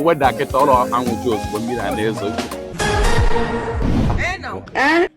weda kịta ụlọ anwụju ozugbo mmiri a na-ezo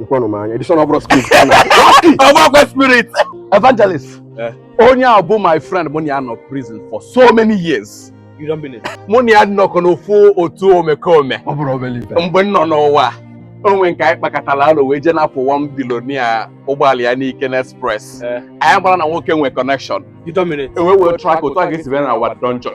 Ikwanụ m anya, Edition ọ bụ Wasky. Ọ bụrọkwa spirit. Evangelist, eh. onye a bụ my friend mụ na ya nọ prison for so many years. Mụ na ya nọkọ n'ofu otu omekome. Ọ bụrọ obere ife. Mgbe m nọ n'ụwa, o nwee nke anyị kpakatara alọ wee jee napụ one billionaire ụgbọala ya n'ike na express. Eh. Anyị amarọ na nwoke nwee connection. E wee wee track otu a ga-esi bịa na our dungeon.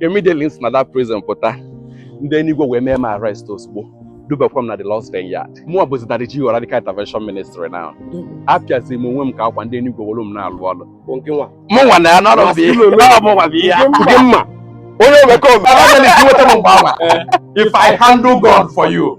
immediately si na that prison pụta ndị enigwe wee mee m arrest ozugbo dubakwa m na the Lord's vineyard mụwa bụzi daddy G.O. radical intervention ministry now apịazi m onwe m ka akwa ndị enigwe were m na-alụ ọlụ bụ nke nwa mụ nwa na ya n'ọrụ bụ ihe ọ bụ nwa bụ ihe ya nke mma onye omekome Evangelist, i nweta m mgbe awa. If I handle gun for you,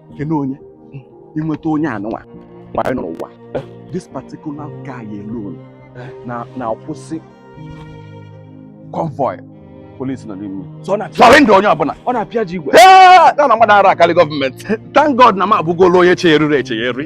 kene onye i nweta onye anụnwa mgbe anyị nọ n'ụwa this particular guy alone na-akwụsị convoy police nọ n'ime surrender onye ọbụla ọ na-apịaji igwe na mmadụ ara akarị government thank God na m abụgolo onye chegharịrị echegharị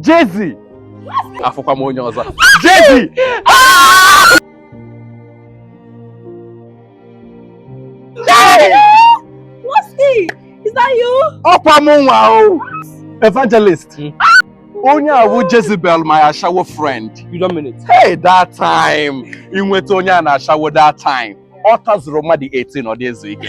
Jezi afụkwa m onye ọzọ Jezi ọ kwa mụnwa o evangelist hmm. onye a wụ Jezebel my ashawo friend hey that time i nweta onye a n'ashawo that time ọ tazurọ mmadụ 18 ọ dị ezu ike